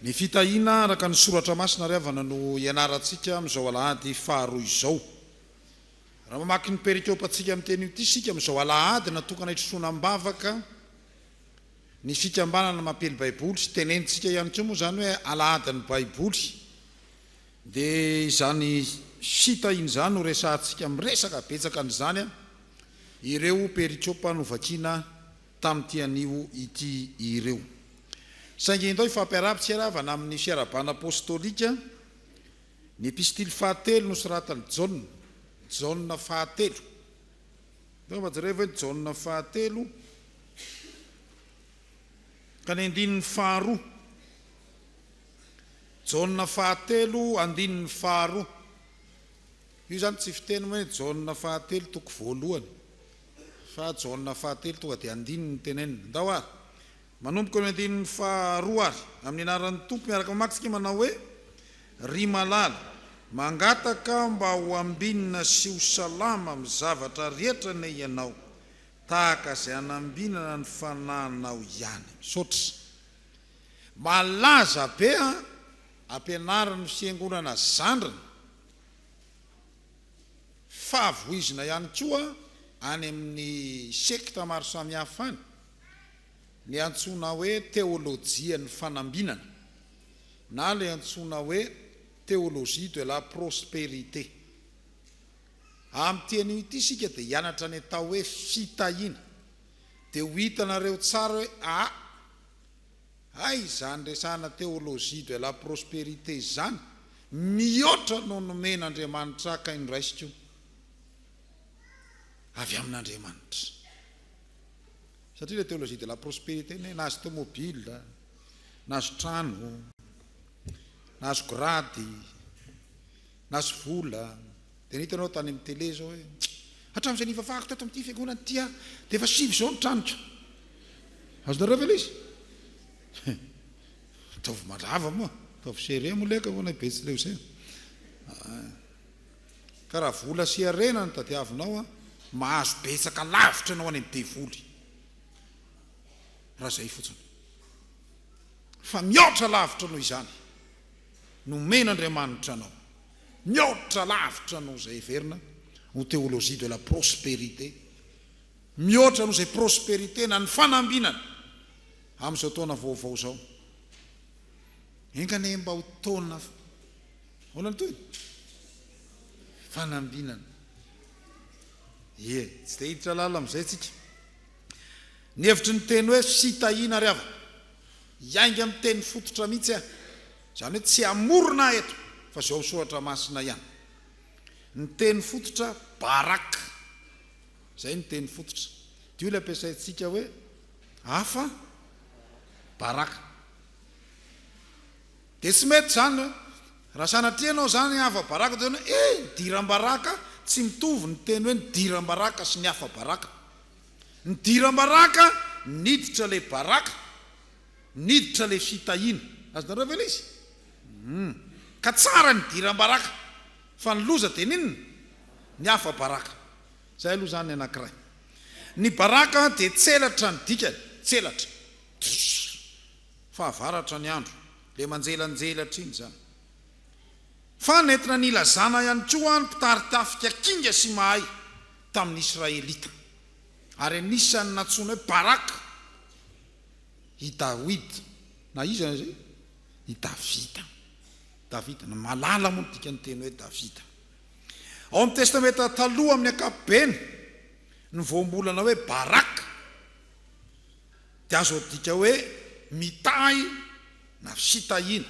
Ny fitahiana araka ny soratra masina ary avana no ianarantsika amin'izao alahady faharoa izao. Raha mamaky ny perikopantsika amin'ny teny io ity isika amin'izao alahady natokana hitrotroana am-bavaka ny fikambanana Mampely Baiboly, tenenintsika ihany koa moa izany hoe alahadin'ny Baiboly. Dia izany site iny izany no resahantsika, miresaka betsaka an'izany an, ireo perikopa novakiana tamin'ity anio ity ireo. Saingy indao hifampiaraha-pitsiravana amin'ny fiarahabana apostolika, ny epistily fahatelo nosoratan'i Jaona, Jaona fahatelo. Angamba jereo ve ny Jaona fahatelo ka ny andininy faharoa. Jaona fahatelo andininy faharoa. Io izany tsy fiteny hoe Jaona fahatelo toko voalohany fa Jaona fahatelo tonga dia andininy no tenenina. Ndao ary, manomboka ny andininy faharoa ary, amin'ny anaran'ny Tompo miaraka mamaky isika manao hoe, Ry malala, mangataka aho mba ho ambinina sy ho salama amin'ny zavatra rehetra anie ianao, tahaka izay hanambinana ny fanahinao ihany. Misaotra. Malaza be an! Ampianariny fiangonana zandriny fa voizina ihany koa any amin'ny sekta maro samihafa any ny antsoina hoe teolojian'ny fanambinana na ilay antsoina hoe théologie de la prospérité. Amin'ity anio ity isika dia hianatra ny atao hoe fitahiana dia ho hitanareo tsara hoe aa Hay izany resahana théologie de la prospérité izany mihoatra no nomen'Andriamanitra ahy kay noraisiko io avy amin'Andriamanitra. Satria ilay théologie de la prospérité ny hoe nahazo tomobila, nahazo trano, nahazo grady, Nahazo vola, dia nahita anao tany amin'ny télé izao hoe, hatramin'izay nivavahako tato amin'ity fiangonana ity aho, dia efa sivy izao ny tranoko. Azonareo ve ilay izy? Ataovy mazava moa, ataovy serré moa ilay kaonay Betsileo izay. Ka raha vola sy harena no tadiavinao, mahazo betsaka lavitra ianao any amin'ny devoly. Raha izay fotsiny. Fa mihoatra lavitra noho izany. nomen'Andriamanitra anao, mihoatra lavitra noho izay heverina ho théologie de la prospérité, mihoatra noho izay prospérité na ny fanambinana amin'izao taona vaovao izao. Enga anie mba ho taona ahoana ny tohiny? Fanambinana. Ie, tsy dia hiditra lalina amin'izay isika. Ny hevitry ny teny hoe fitahiana ry havana. Hiainga amin'ny teny fototra mihitsy aho, izany hoe tsy hamorona ahy eto fa izao soratra masina ihany. Ny teny fototra barak. Izay no teny fototra. Dia io ilay ampiasaintsika hoe afa barak. Dia tsy mety izany hoe raha sanatria ianao izany afa barak dia hoe eh ny diram-baraka tsy mitovy ny teny hoe ny diram-baraka sy ny afa barak. Nidiram-baraka niditra ilay baraka, niditra ilay fitahiana. Azonareo ve ilay izy? Humm. Ka tsara ny diram-baraka. Fa ny loza dia ny inona? Ny hafa baraka. Izay aloha izany ny anankiray. Ny baraka dia tselatra ny dikany, tselatra. Tssrr. Fahavaratra ny andro. Ilay manjelanjelatra iny izany. Fa nentina nilazana ihany koa ny mpitari-tafika kinga sy mahay. tamin'ny Israelita, ary anisan'ny nantsoina hoe Baraka i Dawida, na iza aza io, i Davida. Davida, na malala moa ny dikan'ny teny hoe Davida. Ao amin'ny Testamenta Taloha amin'ny ankapobeny, ny voambolana hoe Baraka dia azo adika hoe mitahy na fitahiana.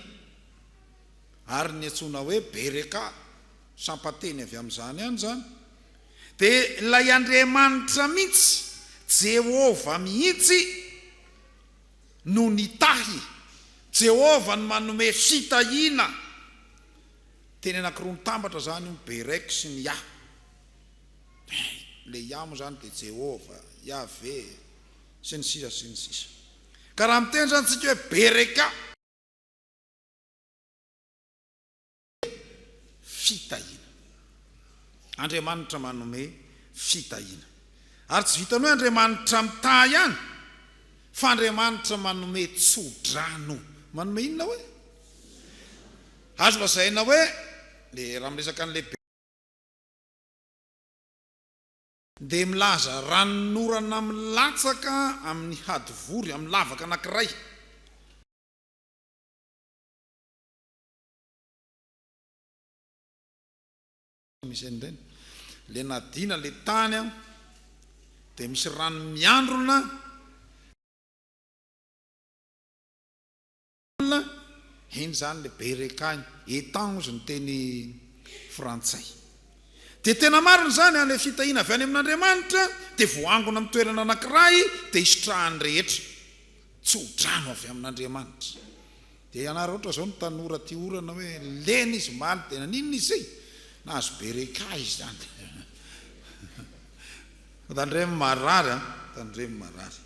ary ny antsoina hoe Berekà, sampan-teny avy amin'izany ihany izany, dia ilay Andriamanitra mihitsy, Jehovah mihitsy, no nitahy. Jehovah no manome fitahiana. Teny anankiroa mitambatra izany io, Berek sy ny Yah. Ilay Yah moa izany dia Jehovah, Yaveh, sy ny sisa sy ny sisa. Ka raha miteny izany isika hoe Berekà, fitahiana. Andriamanitra manome fitahiana. Ary tsy vitan'ny hoe Andriamanitra mitahy ihany, fa Andriamanitra manome tso-drano. Manome inona hoe? Azo lazaina hoe, raha miresaka an'ilay be, dia milaza ranon'orana milatsaka amin'ny hadivory, amin'ny lavaka anankiray. misy an'ireny le nadina le tany an dia misy rano miandrona heny zany le berekany etang ozy ny teny frantsay dia tena marina izany an le fitahiana avy any amin'andriamanitra dia voangona amin'ny toerana anankiray dia isitrahan'ny rehetra tso-drano avy amin'Andriamanitra. Dia ianareo ohatra izao ny tanora tia orana hoe lena izy omaly dia naninona izy izay? Nahazo bereka izy izany. Tandremo marary an, tandremo marary.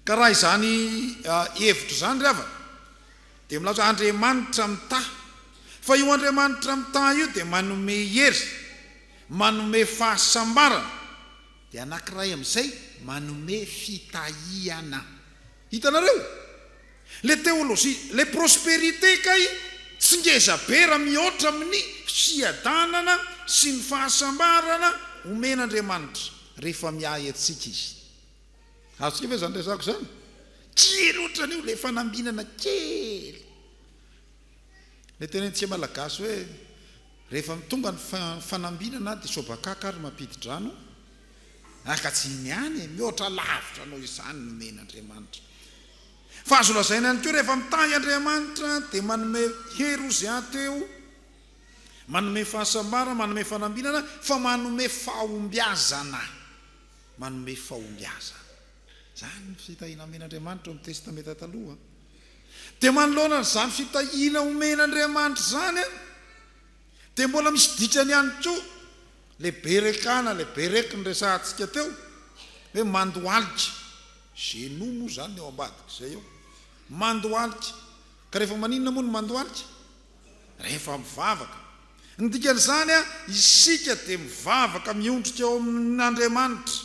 Ka raha izany hevitra izany ry havana dia milaza hoe Andriamanitra mitaha. Fa io Andriamanitra mitaha io dia manome hery, manome fahasambarana Dia anankiray amin'izay manome fitahiana. Hitanareo? Ilay teolojia, ilay prosperité kay tsy ngeza be raha mihoatra amin'ny fiadanana sy ny fahasambarana omen'Andriamanitra rehefa miahy antsika Izy. Azontsika ve izany resako izany? Kely ohatran'io ilay fanambinana kely. Ilay tenenintsika malagasy hoe rehefa tonga ny fanambinana dia sobakaka ary mampidi-drano araka tsy ny any e! Mihoatra lavitra noho izany ny omen' Andriamanitra. Fa azo lazaina ihany koa rehefa mitahy Andriamanitra dia manome hery ozy ateho, manome fahasambarana, manome fanambinana fa manome fahombiazana, manome fahombiazana. Izany ny fitahiana omen' Andriamanitra ao amin'ny Testamenta Taloha. Dia manoloana an'izany fitahiana omen'Andriamanitra izany dia mbola misy dikany ihany koa ilay bereka na ilay berek noresahantsika teo hoe mandohalika, genoux moa izany ny ao ambadik'izay eo, mandohalika, ka rehefa maninona moa no mandohalika? Rehefa mivavaka. Ny dikan'izany isika dia mivavaka miondrika ao amin'Andriamanitra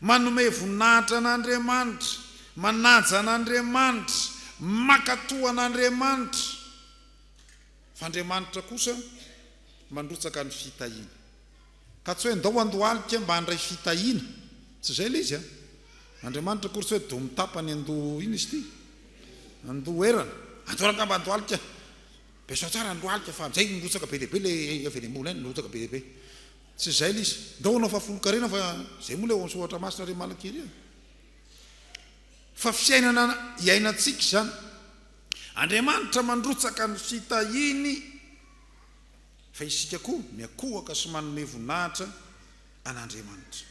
Manome voninahitra an'Andriamanitra, manaja an'Andriamanitra, mankatò an'Andriamanitra. Fa Andriamanitra kosa mandrotsaka ny fitahiana. Ka tsy hoe ndao andohalika mba handray fitahiana. Tsy izay ilay izy an! Andriamanitra akory tsy hoe doha mitapa any an-doha inona izy ity? An-doherana. Andao angamba andohalika. Beso tsara ny lohalika fa amin'izay mirotsaka be dia be ilay havelembola any, mirotsaka be dia be. Tsy izay le izy. Ndao hanao fahafolonkarena fa izay moa le ao amin'ny soratra masina ry Malakely e. Fa fiainana iainantsika izany. Andriamanitra mandrotsaka ny fitahiany fa isika koa miankohoka sy manome voninahitra an'Andriamanitra.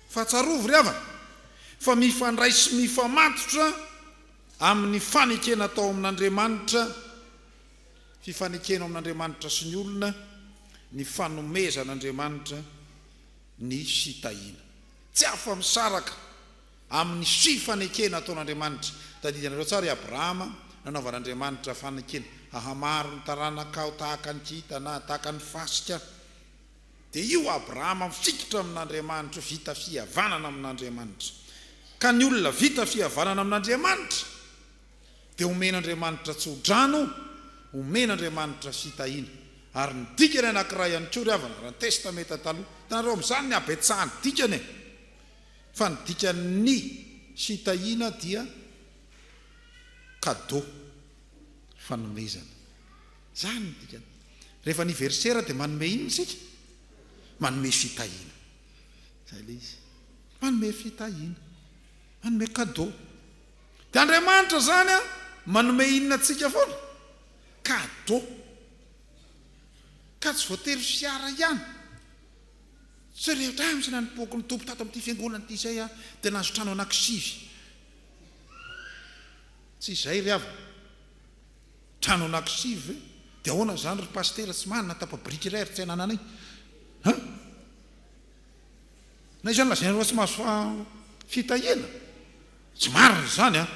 Fa tsarovy ry havana fa mifandray sy mifamatotra amin'ny fanekena atao amin'Andriamanitra Fifanekena ao amin'Andriamanitra sy ny olona ny fanomezan'Andriamanitra ny fitahiana. Tsy afa-misaraka amin'ny fifanekena ataon'Andriamanitra. Tadidianareo tsara i Abrahama, nanaovan'Andriamanitra fanekena, Hahamaro ny taranakao tahaka ny kintana, tahaka ny fasika. Dia io Abrahama mifikitra amin'Andriamanitra io, vita fihavanana amin'Andriamanitra. Ka ny olona vita fihavanana amin'Andriamanitra. Dia homen'Andriamanitra tso-drano, homen'Andriamanitra fitahiana. Ary ny dikany anankiray ihany koa ry havana, raha ny Testamenta Taloha. Hitanareo amin'izany ny habetsahan'ny dikany e! Fa ny dikan'ny fitahiana dia cadeau, fanomezana. Izany ny dikany. Rehefa anniversaire dia manome inona isika? Manome fitahiana. Izay ilay izy. Manome fitahiana. Manome cadeau. Dia Andriamanitra izany an manome inona antsika foana? Cadeau. Ka tsy voatery fiara ihany. Tsy rehetra ihany misy nanompoako ny Tompo tato amin'ity fiangonana ity izay an dia nahazo trano anankisivy. Tsy izay ry havana. Trano anankisivy ve? Dia ahoana izany ry Pasitera tsy manana tapa-biriky iray ary tsy anananay? An? Na izany lazainareo fa tsy mahazo fitahiana, tsy marina izany an!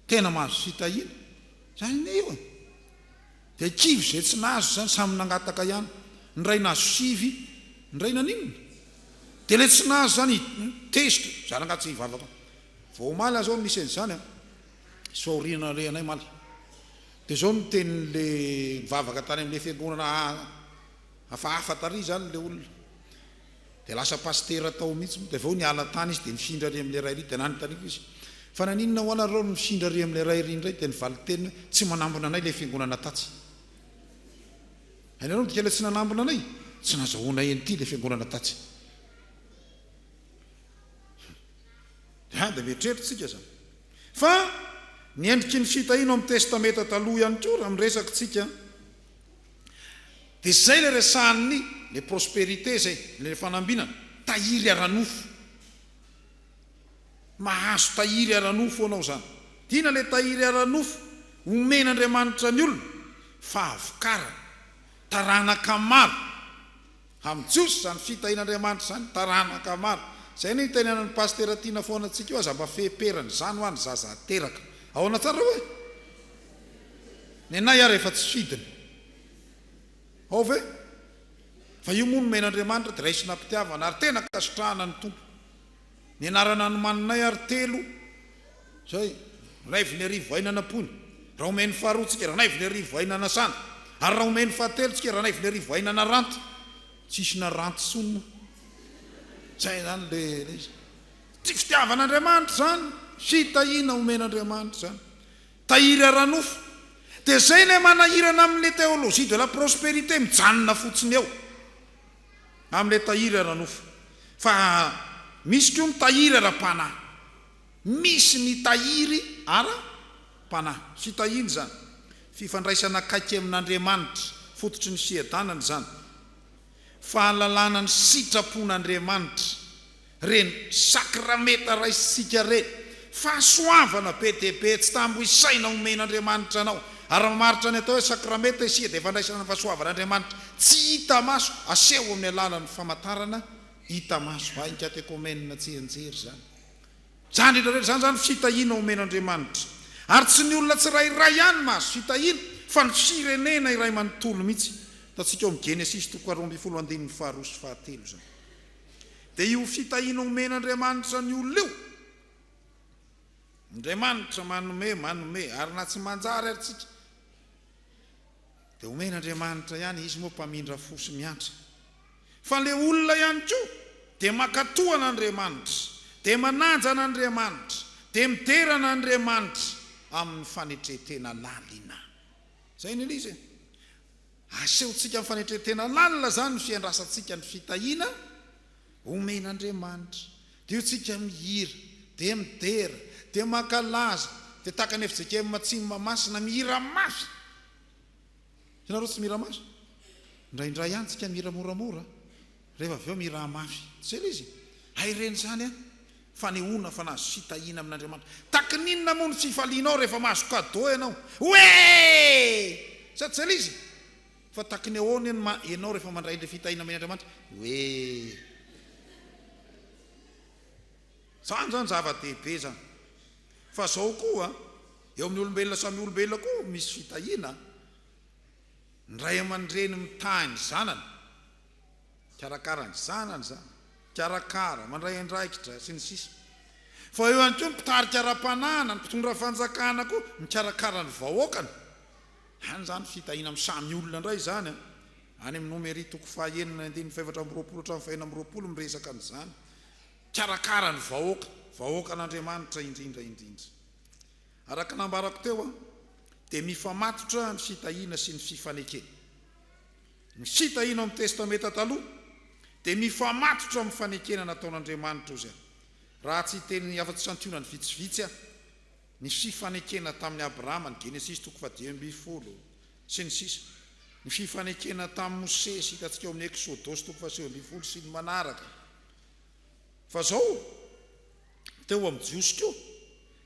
Tena mahazo fitahiana. Izany anie io e! Dia kivy izay tsy nahazo izany, samy nangataka ihany. Ny iray nahazo sivy, ny iray naninona? Dia ilay tsy nahazo izany tezitra, zara angaha tsy hivavaka. Vao omaly aza aho nisy an'izany an! Soa aoriana ilay anay omaly. Dia izao no tenin'ilay nivavaka tany amin'ilay fiangonana. Hafahafa tarehy izany ilay olona. Dia lasa pasitera tao mihitsy moa, dia avy eo niala tany izy dia nifindra ary amin'ilay raha iry, dia nanontaniako izy, Fa naninona hoana ry reo no nifindra ary amin'ilay raha iry indray? Dia ny valin-teniny hoe, Tsy manambina anay ilay fiangonana tatsy. Hainareo ny dikan'ilay tsy nanambina anay? Tsy nazahoanay an'ity ilay fiangonana tatsy. Dia dia mieritreritra isika izany. Fa ny endriky ny fitahiana ao amin'ny Testamenta Taloha ihany koa raha miresaka isika. Dia zay le resahan'ny le prosperité zay, le fanambinana, tahiry ara-nofo. Mahazo tahiry ara-nofo anao zany. Dina le tahiry ara-nofo omen'Andriamanitra ny olona, fahavokarana, taranaka maro, Amin'ny Jiosy izany fitahian'Andriamanitra izany taranaka maro. Izay no itenenan'ny Pasitera Tiana foana antsika io aza mba fehiperana izany hoa ny zaza ateraka. Ahoana tsara hoe? Nenay ary efa tsy fidiny. Ao ve? Fa io moa nomen'Andriamanitra dia raisina am-pitiavana ary tena ka sitrahana ny Tompo. Ny anarana nomaninay ary telo izay, Raivonerivoainanapony, Raomainy faharoa tsika, Ranaivonerivoainanasana, ary Raomainy fahatelo tsika, Ranaivonerivoainanaranty, tsisy naranty intsony moa, izay izany le le izy. Tsy fitiavan'Andriamanitra izany, fitahiana omen'Andriamanitra izany, tahiry ara-nofo, dia izay ilay manahirana amin'ny le théologie de la prospérité mijanona fotsiny eo. Amin'ilay tahiry ara-nofo. Fa misy koa ny tahiry ara-panahy. Misy ny tahiry ara-panahy. Fitahiana izany. Fifandraisana akaiky amin'Andriamanitra. Fototry ny fiadanana izany. Fahalalana ny sitrapon'Andriamanitra. Reny sakramenta raisintsika reny, fahasoavana be dia be tsy tambo isaina omen'Andriamanitra anao. Ary mamaritra ny atao hoe sakramenta isika dia fandraisana ny fahasoavan'Andriamanitra tsy hita maso aseho amin'ny alalan'ny famantarana hita maso. Hay ny katekomenina tsianjery izany. Izany rehetra rehetra izany izany fitahiana omen'Andriamanitra. Ary tsy ny olona tsirairay ihany mahazo fitahiana fa ny firenena iray manontolo mihitsy. Hitantsika ao amin'ny Genesisy toko faharoa ambin'ny folo andininy faharoa sy fahatelo izany. Dia io fitahiana omen'Andriamanitra ny olona io. Andriamanitra manome, manome, ary na tsy manjary ary tsika dia omen'Andriamanitra ihany, Izy moa mpamindra fo sy miantra. Fa ilay olona ihany koa dia mankatoa an'Andriamanitra, dia manaja an'Andriamanitra, dia midera an'Andriamanitra amin'ny fanetre-tena lalina. Izay ny Eliza e. Asehontsika amin'ny fanetren-tena lalina izany ny fiandrasantsika ny fitahiana omen'Andriamanitra. Dio tsika mihira, dia midera, dia mankalaza, dia tahaka ny fjkm Matsimo Mahamasina mihira mafy. Ianareo tsy mihira mafy? Indraindray ihany tsika mihira moramora. Rehefa avy eo miraha mafy. Jereo izy. Hay reny izany an! Fanehoana fa nahazo fitahiana amin'Andriamanitra. Takin' inona moa no tsy hifalianao rehefa mahazo cadeau ianao? Oee! Sa jereo izy. Fa takin' ny ahoana eny ma ianao rehefa mandray ilay fitahiana omen' Andriamanitra? Oee! Izany izany zava-dehibe izany. Fa izao koa, eo amin'ny olombelona samy olombelona koa misy fitahiana. Ny ray aman-dreny mitahy ny zanany. Mikarakara ny zanany izany, mikarakara, mandray andraikitra, sy ny sisa Fa eo ihany koa ny mpitarika ara-panahana, ny mpitondra fanjakana koa mikarakara ny vahoakany. Any izany fitahiana amin'ny samy olona indray izany an! Any amin'ny Nomery toko fahaenina andininy fahefatra amby roapolo hatramin'ny fahenina amby roapolo miresaka an'izany. Mikarakara ny vahoaka, vahoakan'Andriamanitra indrindra indrindra. Araka nambarako teo an, dia mifamatotra ny fitahiana sy ny fifanekena. Ny hita hino amin'ny Testamenta Taloha dia mifamatotra amin'ny fanekena nataon'Andriamanitra Ozia, raha tsy hiteny ny afa-tsy santionany vitsivitsy aho, ny fifanekena tamin'i Abrahama, ny Genesisy toko fahadimy ambin'ny folo, sy ny sisa, ny fifanekena tamin'i Mosesy hitantsika ao amin'ny Eksodosy toko fahasivy ambin'ny folo sy ny manaraka. Fa izao. teo amin'ny Jiosy koa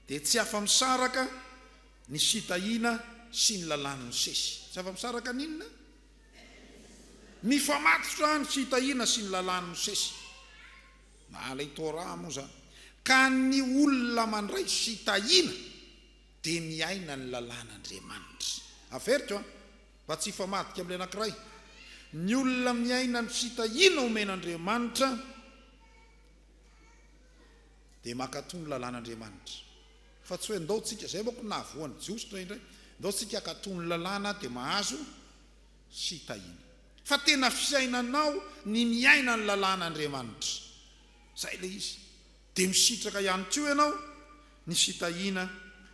dia tsy afa-misaraka ny fitahiana sy ny Lalàn'i Mosesy. Tsy afa-misaraka ny inona? Mifamatotra ny fitahiana sy ny Lalàn'i Mosesy. Na ilay Torah moa izany. Ka ny olona mandray fitahiana dia miaina ny Lalàn'Andriamanitra. Averiko an, mba tsy hifamadika amin'ilay anankiray. Ny olona miaina ny fitahiana omen'Andriamanitra, dia mankatò ny lalàn'Andriamanitra. Fa tsy hoe ndao tsika, izay manko no nahavoa ny Jiosy indraindray, ndao tsika hankatò ny lalàna dia mahazo fitahiana. Fa tena fiainanao ny miaina ny lalàn'Andriamanitra. Izay ilay izy. Dia misitraka ihany koa ianao ny fitahiana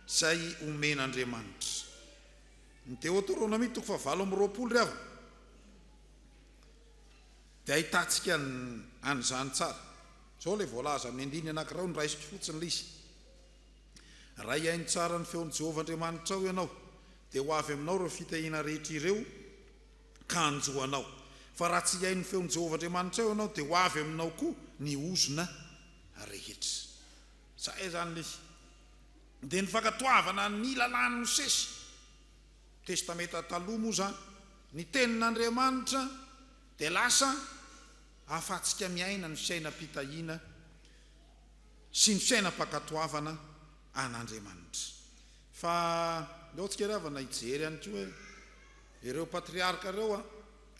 izay omen'Andriamanitra. Ny Deoteronomia toko fahavalo amby roapolo ry havana. Dia ahitantsika an'izany tsara. Izao ilay voalaza amin'ny andininy anankiray no raisiko fotsiny ilay izy, Raha hihaino tsara ny feon'i Jehovah Andriamanitrao ianao, dia ho avy aminao ireo fitahiana rehetra ireo, ka hanjo anao. Fa raha tsy hihaino ny feon'i Jehovah Andriamanitrao ianao, dia ho avy aminao koa ny ozona rehetra. Izay izany ilay izy. Dia ny fankatoavana ny lalàn'i Mosesy, Testamenta Taloha, moa izany, ny Tenin'Andriamanitra, Dia lasa ahafahantsika miaina ny fiainam-pitahiana sy ny fiainam-pankatoavana an'Andriamanitra. Fa ndao tsika ry havana hijery ihany koa hoe ireo patriarka ireo a,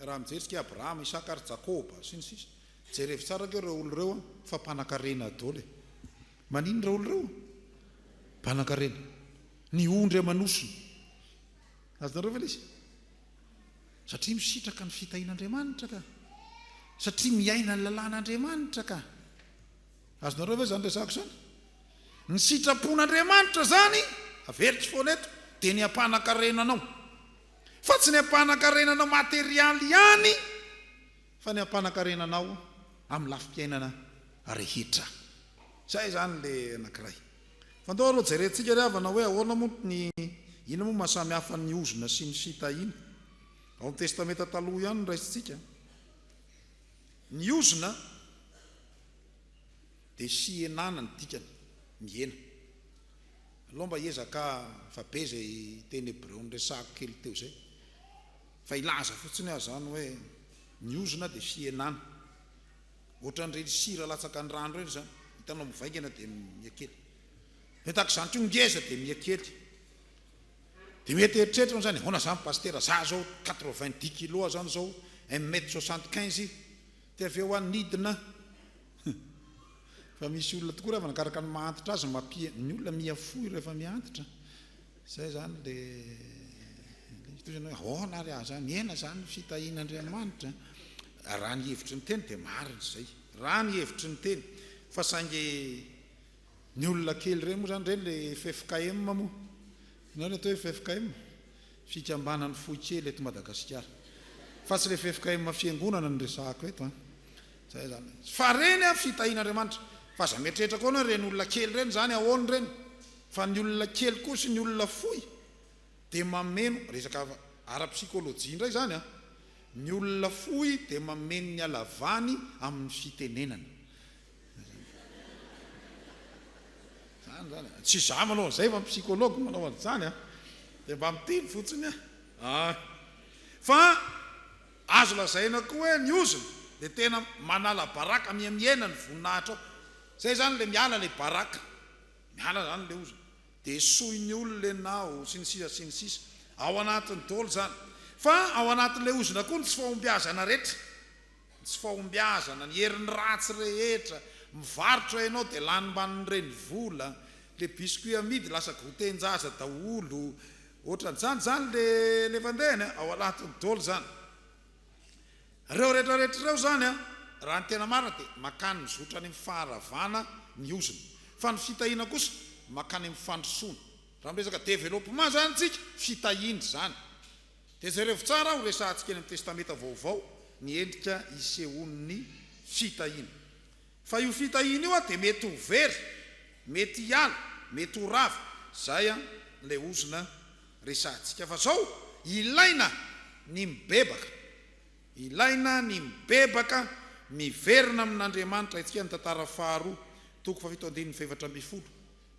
raha mijery tsika Abrahama, Isaka ary Jakoba, sy ny sisa. Jerevo tsara ko ireo olona ireo a, fa mpanankarena daholo e. Maninona ireo olona ireo? Mpanankarena. Ny ondry aman'osony. Azonareo ve ilay izy? Satria misitraka ny fitahian'Andriamanitra ka. Satria miaina ny lalàn'Andriamanitra ka. Azonareo ve izany resako izany? Ny sitrapon'Andriamanitra izany, averiko foana eto, dia ny hampanankarena anao. Fa tsy ny hampanankarena anao materialy ihany, fa ny hampanankarena anao amin'ny lafim-piainana rehetra. Izay izany ilay anankiray. Fa ndao aloha jerentsika ry havana hoe ahoana moa ny inona moa mahasamy hafa ny ozona sy ny fitahiana? Ao amin'ny testamenta taloha ihany no raisintsika ny ozona dia fihenana ny dikany, mihena. Alao mba hiezaka fa be izay teny hebreo niresahako kely teo izay fa hilaza fotsiny aho izany hoe ny ozona dia fihenana. Ohatran'ireny sira latsaka ny rano ireny izany, hitanao mivaingana dia miha kely. Dia tahaka izany koa ngeza dia miha kely. Dia mety eritreritro an'izany, ahoana izany Pasitera, za izao quatre vingt dix kilos izany izao, un mètre soixante quinze, dia avy eo any nidina, fa misy olona tokoa raha vao nakaraka ny maha antitra azy, ny olona miha fohy rehefa miha antitra. Izay izany ilay izy hoe ahoana ary aza mihena izany ny fitahian'Andriamanitra? Raha ny hevitry ny teny dia marina izay, raha ny hevitry ny teny, fa saingy ny olona kely ireny moa izany ireny ilay ffkm moa, ianao ilay atao hoe ffkm? fikambanan'ny fohy kely eto Madagasikara, fa tsy ilay ffkm fiangonana no resahako eto an! izay izany, fa ireny an fitahian'Andriamanitra, fa aza mieritreritra koa ianao ireny olona kely ireny izany ahoana ireny? Fa ny olona kely koa sy ny olona fohy dia mameno, resaka ara-psikolojia indray izany an, ny olona fohy dia mameno ny halavany amin'ny fitenenana. Izany izany an, tsy izaho manao an'izay fa ny psychologue no manao an'izany an, dia mba miteny fotsiny an, ah. Fa azo lazaina koa hoe ny ozona dia tena manala baraka miha mihena ny voninahitra ao, izay izany ilay miala ilay baraka. Miala zany le oza de esohin'ny olona enao sy ny sisa sy ny sisa ao anatiny dôly zany fa ao anatin'le ozona koa ny tsy fahombiazana retra ny tsy fahombiazana ny herin'ny ratsy rehetra mivarotra enao de lanimban'ireny vola le biscuit amidy lasa goûtenjaza daholo otran'zany zany le levandehany ao anatiny dôly zany. Ireo retraretra ireo izany raha ny tena marina dia makany mizotra any amin'ny faharavana ny ozona fa ny fitahiana kosa makany amin'ny fandrosoana. Raha miresaka developpement izany isika, fitahiana izany. Dia jerevo tsara ho resahantsika eny amin'ny Testamenta Vaovao ny endrika isehoan'ny fitahiana. Fa io fitahiana io an dia mety ho very, mety hiala, mety ho rava, zay an ilay ozona resahantsika fa zao ilaina ny mibebaka, ilaina ny mibebaka, miverina amin'Andriamanitra, etsika ny tantara faharoa toko fahafito andininy fahefatra ambin'ny folo,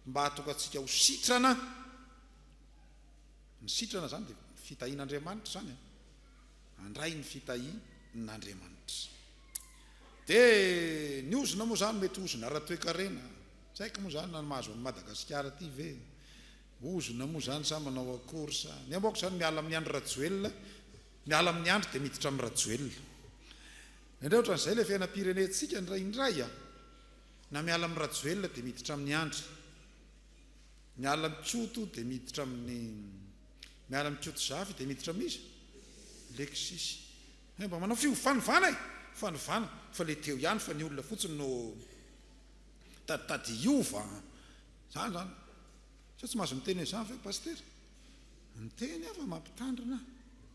mba hahatonga antsika ho sitrana, ny sitrana zany dia fitahian'Andriamanitra zany an. Handray ny fitahi n'Andriamanitra. Dia ny ozona moa izany mety ozona ara-toekarena. Tsy haiko moa izany na ny mahazo an'i Madagasikara ity ve. Ozona moa izany sa manao akory sa. Ny amoako izany miala amin'i Andry Rajoelina, miala amin'i Andry dia miditra amin'i Rajoelina. Indray ohatran'izay ilay fiainam-pirenentsika indraindray an. Na miala amin'i Rajoelina dia miditra amin'i Andry. Miala amin'i Koto dia miditra amin'i. Miara-mikoto zafy dia miditra amin'iza? Lexisy. Ianao mba manao fiovanovana e! Fanovana fa ilay teo ihany fa ny olona fotsiny no mitaditady hiova an! Izany izany. Sao tsy mahazo miteny an'izany ve Pasitera? Miteny aho fa mampitandrina,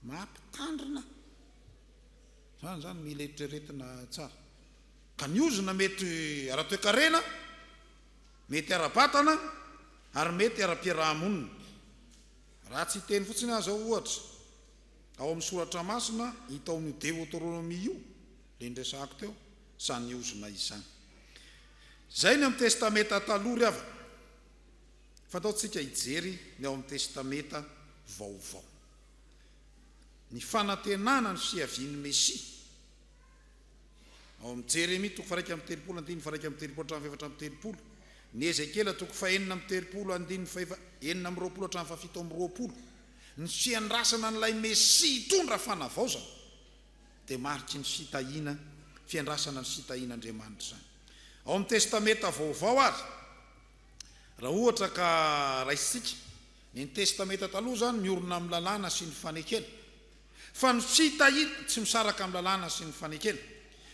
mampitandrina. Izany izany mila eritreretina tsara. Ka ny ozona mety ara-toekarena. Mety ara-batana ary mety ara-piaraha-monina. Raha tsy hiteny fotsiny aza aho ohatra, ao amin'ny soratra masina hita ao amin'io Deotoronomia io, ilay niresahako teo, izany ozona izany. Izay ny amin'ny Testamenta Taloha ry havana. Fantaoy tsika hijery ny ao amin'ny Testamenta Vaovao. Ny fanantenana ny fiavian'ny Mesia. Ao amin'ny Jeremia toko faharaika amby telopolo andininy faharaika amby telopolo hatramin'ny fahefatra amby telopolo, ny Ezekiela toko fahenina amby telopolo andininy fahefa enina amby roapolo hatramin'ny fahafito amby roapolo, ny fiandrasana an'ilay Mesia hitondra fanavaozana dia mariky ny fitahiana, fiandrasana ny fitahian' Andriamanitra izany. Ao amin'ny Testamenta Vaovao ary, raha ohatra ka raisintsika, ny Testamenta Taloha izany miorina amin'ny lalàna sy ny fanekena, fa no tsy hita hita, tsy misaraka amin'ny lalàna sy ny fanekena,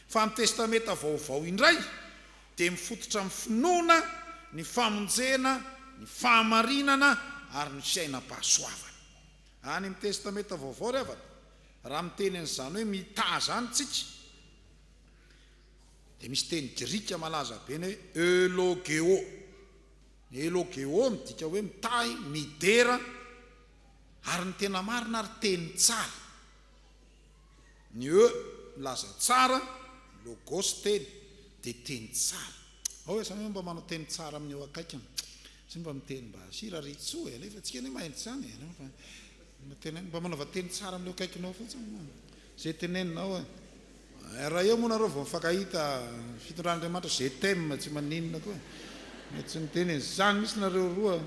fa ny Testamenta Vaovao indray dia mifototra amin'ny finoana, ny famonjena, ny fahamarinana ary ny fiainam-pahasoavana. Any amin'ny Testamenta Vaovao ry havana, raha miteny an'izany hoe mità izany isika, dia misy teny grika malaza be ny hoe eulogeô. Ny eulogeô midika hoe mitahy, midera, Ary ny tena marina ary teny tsara. Ny e milaza tsara, logos teny, dia teny tsara. Aoa samy hoe mba manao teny tsara amin'ny eo akaikiny. Tsy mba miteny mba hira ry tso e, alefa antsika anie mahay an'izany e. Mba manaova teny tsara amin'ny eo akaikinao fotsiny. Zay teneninao e. Raha eo moa nareo vao mifankahita fitondran'Andriamanitra je t'aime tsy maninona koa e. Tsy miteny e. Zany mihitsy nareo roa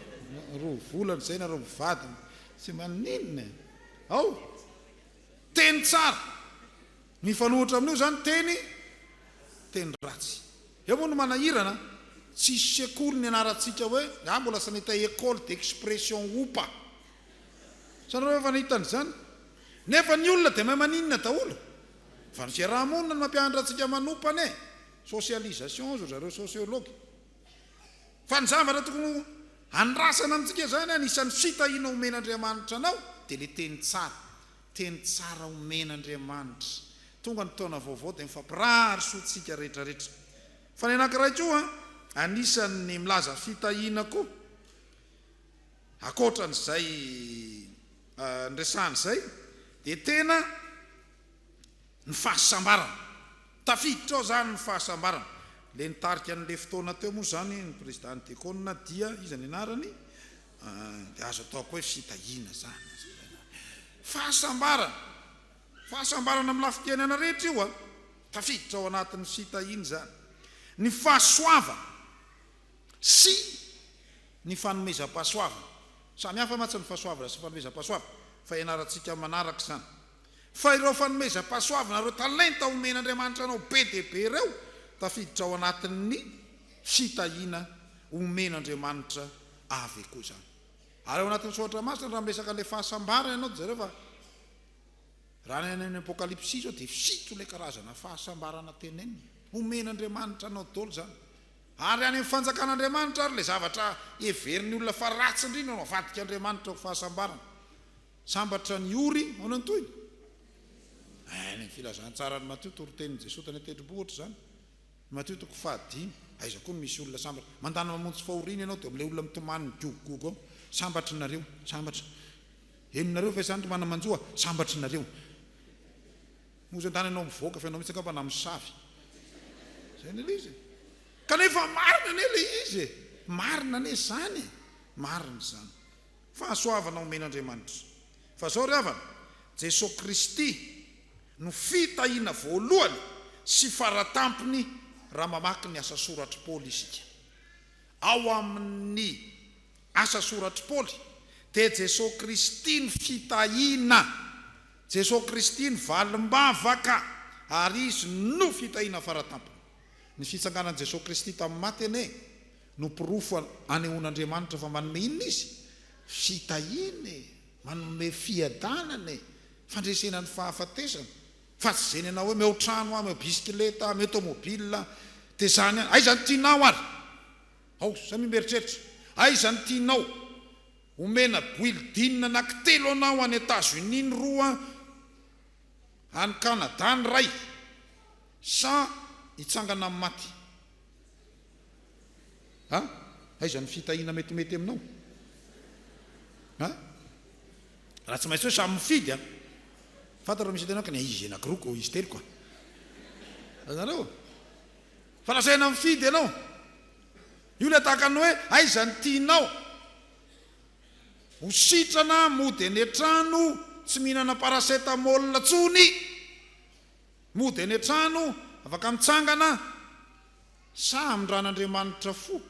roa volana zay nareo mivady tsy maninona e. Ao teny tsara mifanohitra amin'io zany teny teny ratsy. Eo moa no manahirana tsisy sekoly nianarantsika hoe, za mbola sanita école d'expression opa. Hitanareo ve fa nahitany izany? Nefa ny olona dia mahay maninona daholo? Fa ny fiaraha-monina no mampianatra antsika manopana e! Socialisation hozy ry zareo sociologue. Fa ny zavatra tokony handrasana amintsika izany an, isan'ny fitahiana omen'Andriamanitra anao dia ilay teny tsara. Teny tsara omen'Andriamanitra. Tonga ny taona vaovao dia mifampirary soa tsika rehetra rehetra. Fa ny anankiray koa an, anisan'ny milaza fitahiana koa Ankoatran'izay niresahana izay dia tena ny fahasambarana, tafiditra ao izany ny fahasambarana. Ilay nitarika an'ilay fotoana teo moa izany ny Prezidàn'i Dekona dia iza ny anarany? dia azo atao koa hoe fitahiana izany, fahasambarana, fahasambarana amin'ny lafim-piainana rehetra io an, tafiditra ao anatin'ny fitahiana izany. Ny fahasoavana, sy ny fanomezam-pahasoavana. Samy hafa mantsy ny fahasoavana sy ny fanomezam-pahasoavana, fa ianarantsika amin'ny manaraka izany. Fa ireo fanomezam-pahasoavana, ireo talenta omen'Andriamanitra anao be dia be ireo, tafiditra ao anatin'ny fitahiana omen'Andriamanitra avy koa izany. Ary ao anatin'ny soratra masina, raha miresaka an'ilay fahasambarana ianao, dia jereo fa raha any amin'ny Apokalypsy izao, dia fito ilay karazana fahasambarana tenenina. Omen'Andriamanitra anao daholo izany. Ary any amin'ny fanjakan'Andriamanitra ary ilay zavatra heverin'ny olona fa ratsy indrindra no avadika Andriamanitra ho fahasambarana. Sambatra ny ory, ahoana ny tohiny? Any amin'ny filazantsaran'i Matio, toritenin'i Jesoa tany an-tendrombohitra izany. Matio toko fahadimy, aiza koa no misy olona sambatra? Mandana mamonjy fahoriana ianao dia amin'ilay olona mitomany migogogogo ao, sambatra nareo, sambatra. Henonareo ve izany ry manamanjoa? Sambatra nareo. Moa zany ianao mivoaka fa ianao mihitsy angamba namosavy. Zay anie le izy e. Kanefa marina anie le izy e. Marina anie izany e. Marina izany. Fahasoavana omen'Andriamanitra. Fa zao ry havana, Jesoa Kristy no fitahiana voalohany sy faratampony raha mamaky ny asa soratr'i Paoly isika. Ao amin'ny asa soratr'i Paoly dia Jesoa Kristy no fitahiana. Jesoa Kristy ny valim-bavaka ary Izy no fitahiana faratampony. Ny fitsanganan'i Jesoa Kristy tamin'ny maty anie no porofo anehoan'Andriamanitra fa manome inona Izy? Fitahiana e! Manome fiadanana e! Fandresena ny fahafatesana. Fa tsy izay nenao hoe meo trano aho, meo bisikileta, meo tomobila, dia izany ihany. Aiza ny tianao ary? Ao, samia mieritreritra. Aiza ny tianao? Omena building anankitelo anao any Etazonia ny roa, any Kanada ny iray, sa hitsangana amin'ny maty? Ha? Aiza ny fitahiana metimety aminao? Ha? Raha tsy maintsy hoe samy mifidy a! Fantatrao misy antenako ny izy anankiroako, izy teloko a! Azonareo? Fa lazaina mifidy ianao. Io ilay tahaka ny hoe aiza ny tianao ho sitrana mody any an-trano tsy mihinana paracetamol intsony mody any an-trano afaka mitsangana sa amindran'Andriamanitra fo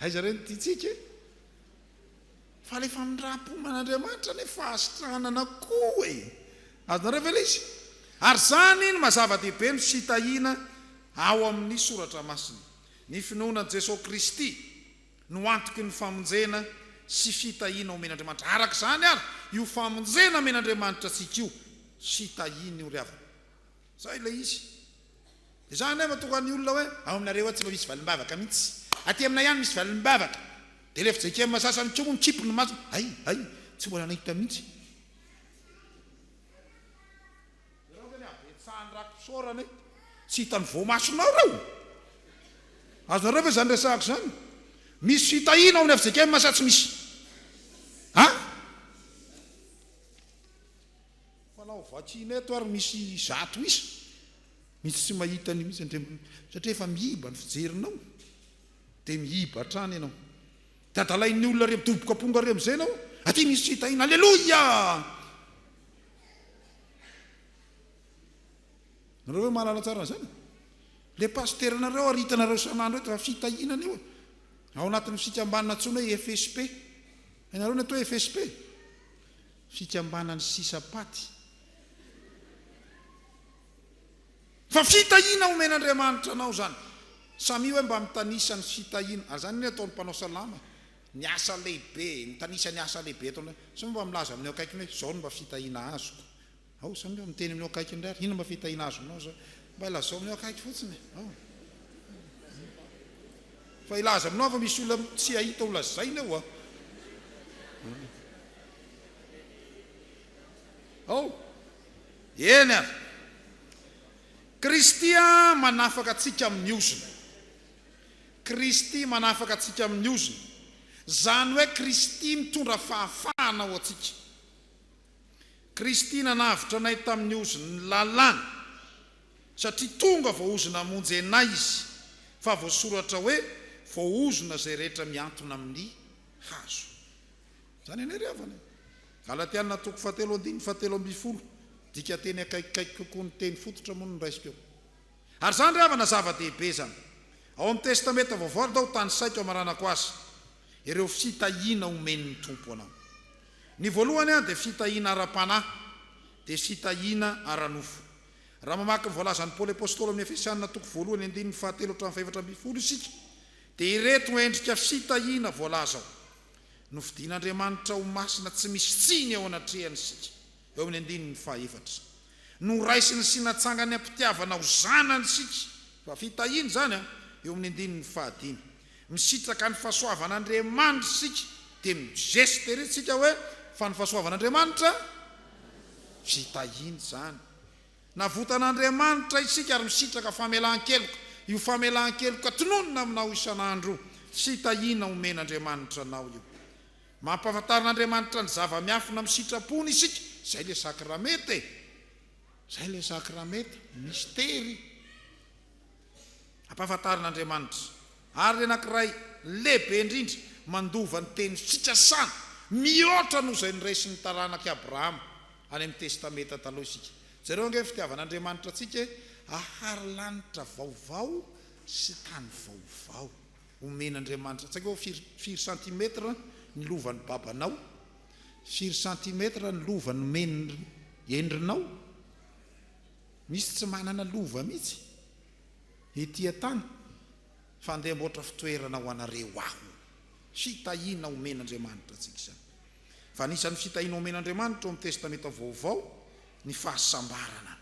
aiza re ny tiantsika e? Fa le famindram-po man'Andriamanitra anie fahasitranana koa e! Azonareo ve le izy? Ary zany no mazava-dehibe no tsy tahiana ao amin'ny Soratra Masina. Ny finoana an'i Jesoa Kristy no antoky ny famonjena sy fitahiana omen'Andriamanitra. Araka izany ary, io famonjena omen'Andriamanitra antsika io sy tahiany io ry havana, Zay ilay izy. Dia za indray matoka ny olona hoe ao aminareo ao tsy mba misy valim-bavaka mihitsy. Aty aminay ihany misy valim-bavaka. Dia ilay fijkm sasany koa moa mikimpy ny masony, hay, hay, tsy mbola nahita mihitsy. Ianao ve ilay habetsahan'ny raki-pisaorana e? Tsy hitan'ny voamasonao ireo? Azonareo ve izany resahako izany? Misy fitahiana ao amin'ny fjkm sa tsy misy? An? Manao vaccine eto ary misy zato isa mihitsy tsy mahita an'io mihitsy Andriamatoa satria efa miiba ny fijerinao dia miiba hatrany ianao dia adalain'ny olona re midoboka amponga re amin'izay ianao aty misy tsy hita ina aleloia nareo ve mahalala tsara an'izany le pasitera nareo ary hitanareo san'andro eto fa fitahiana an'io ao anatin'ny fikambanana antsoina hoe FSP hainareo ny atao hoe FSP fikambanan'ny sisa paty. Fa fitahiana omen'Andriamanitra anao izany. Samia hoe mba mitanisa ny fitahiana. Ary izany anie ataon'ny mpanao salama e. Ny asa lehibe, mitanisa ny asa lehibe ataonao. Samia mba milaza amin'ny eo akaikiny hoe izao no mba fitahiana azoko. Ao izany eo miteny amin'io akaiky indray ary inona ma fitahiana azonao izao mba ilazao amin'io akaiky fotsiny e ao fa ilaza aminao fa misy olona tsy hahita ho lazaina eo a ao eny a Kristy a manafaka antsika amin'ny ozona Kristy manafaka antsika amin'ny ozona izany hoe Kristy mitondra fahafahana ho antsika Kristy nanavotra anay tamin'ny ozon'ny lalàna, satria tonga voaozona hamonjy anay Izy, fa voasoratra hoe, Voaozona izay rehetra mihantona amin'ny hazo. Izany anay ry havana e! Galatiana toko fahatelo andininy fahatelo ambin'ny folo, dika teny akaikikaiky kokoa ny teny fototra moa no nraisiko eo. Ary izany ry havana zava-dehibe izany. Ao amin'ny Testamenta Vaovao aloha aho tanisaiko hamaranako azy ireo fitahiana omen'ny Tompo anao. Ny voalohany dia fitahiana ara-panahy, dia fitahiana ara-nofo. Raha mamaky ny voalazan'i Paoly Apostoly ao amin'ny Efesiana toko voalohany andininy fahatelo hatramin'ny fahefatra ambin'ny folo isika dia ireto endrika fitahiana voalaza ao, Nofidin'Andriamanitra ho masina tsy misy tsiny eo anatrehany isika, eo amin'ny andininy fahefatra. Noraisiny sy natsangan'ny am-pitiavana ho zanany isika, fa fitahiana izany, eo amin'ny andininy fahadimy. Misitraka ny fahasoavan'Andriamanitra isika dia migeste ery isika hoe fa ny fahasoavan'Andriamanitra fitahiana izany. Navotan'Andriamanitra isika ary misitraka famelan-keloka, io famelan-keloka tononina aminao isan'andro fitahiana omen'Andriamanitra anao io. Mampahafantarin'Andriamanitra ny zava-miafina amin'ny sitrapony isika, izay ilay sakramenta e! Izay ilay sakramenta, mistery. Ampahafantarin'Andriamanitra àry ny anankiray lehibe indrindra mandova ny teny fikasana mihoatra noho izay noraisin'ny taranak'i Abrahama any amin'ny Testamenta Taloha isika. Jereo ange ny fitiavan'Andriamanitra antsika e! Hahary lanitra vaovao sy tany vaovao omen'Andriamanitra. Tsy haiko hoe firy, firy santimetatra ny lovan'ny babanao? Firy santimetatra ny lova nomen'i endrinao? Misy tsy manana lova mihitsy ety an-tany fa andeha amboatra fitoerana ho anareo aho. Fitahiana omen'Andriamanitra antsika izany. Fa anisan'ny fitahiana omen'Andriamanitra ao amin'ny Testamenta Vaovao ny fahasambarana.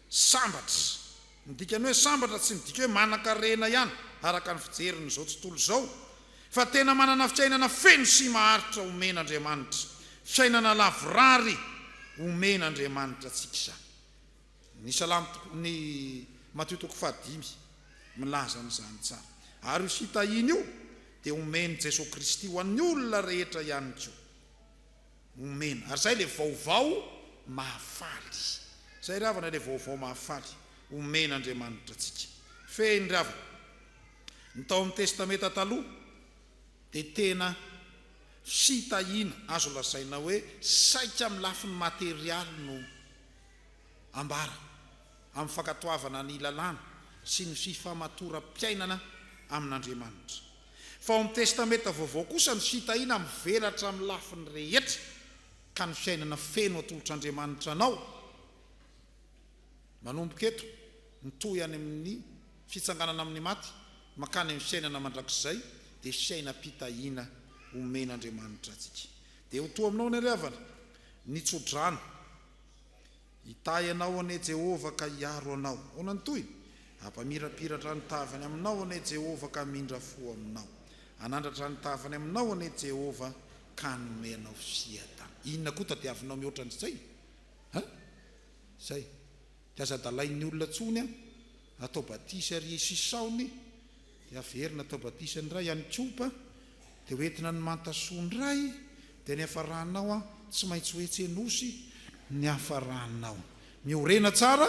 Sambatra. Ny dikan'ny hoe sambatra tsy midika hoe manankarena ihany araka ny fijerin'izao tontolo izao Fa tena manana fiainana feno sy maharitra omen'Andriamanitra, fiainana lavorary omen'Andriamanitra antsika izany. Ny Salamo toko, ny Matio toko fahadimy milaza an'izany tsara. Ary io fitahiana io dia omen'i Jesoa Kristy ho an'ny olona rehetra ihany koa. Omena. Ary izay ilay vaovao mahafaly. Izay ry havana ilay vaovao mahafaly omen'Andriamanitra antsika. Fehiny ry havana. Ny tao amin'ny Testamenta Taloha dia tena fitahiana azo lazaina hoe saika amin'ny lafiny materialy no ambara, amin'ny fankatoavana ny lalàna sy ny fifamatoram-piainana amin'Andriamanitra. Fa ao amin'ny Testamenta Vaovao kosa ny fitahiana mivelatra amin'ny lafiny rehetra, ka ny fiainana feno atolotr'Andriamanitra anao, Manomboka eto, mitohy any amin'ny fitsanganana amin'ny maty mankany amin'ny fiainana mandrakizay, dia fiainam-pitahiana omen'Andriamanitra antsika. Dia ho toa aminao ny ry havana, ny tso-drano. Hitahy anao anie Jehovah ka hiaro anao. Ahoana ny tohiny? Hampamirapiratra ny tavany aminao anie Jehovah ka hamindra fo aminao. Hanandratra ny tavany aminao anie Jehovah ka hanome anao fiadanana. Inona koa tadiavinao mihoatra an'izay? An? Zay. Dia aza adalain'ny olona tsony an! Atao batisa ery isisaony dia averina atao batisa ny ray any kopa dia ho entina ny manta soa ny ray dia ny hafaranao an tsy maintsy ho etsy nosy ny hafaranao miorena tsara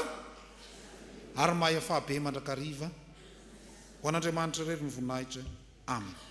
ary mahay afaha be mandrakariva ho an'Andriamanitra irery ny voninahitra Amen.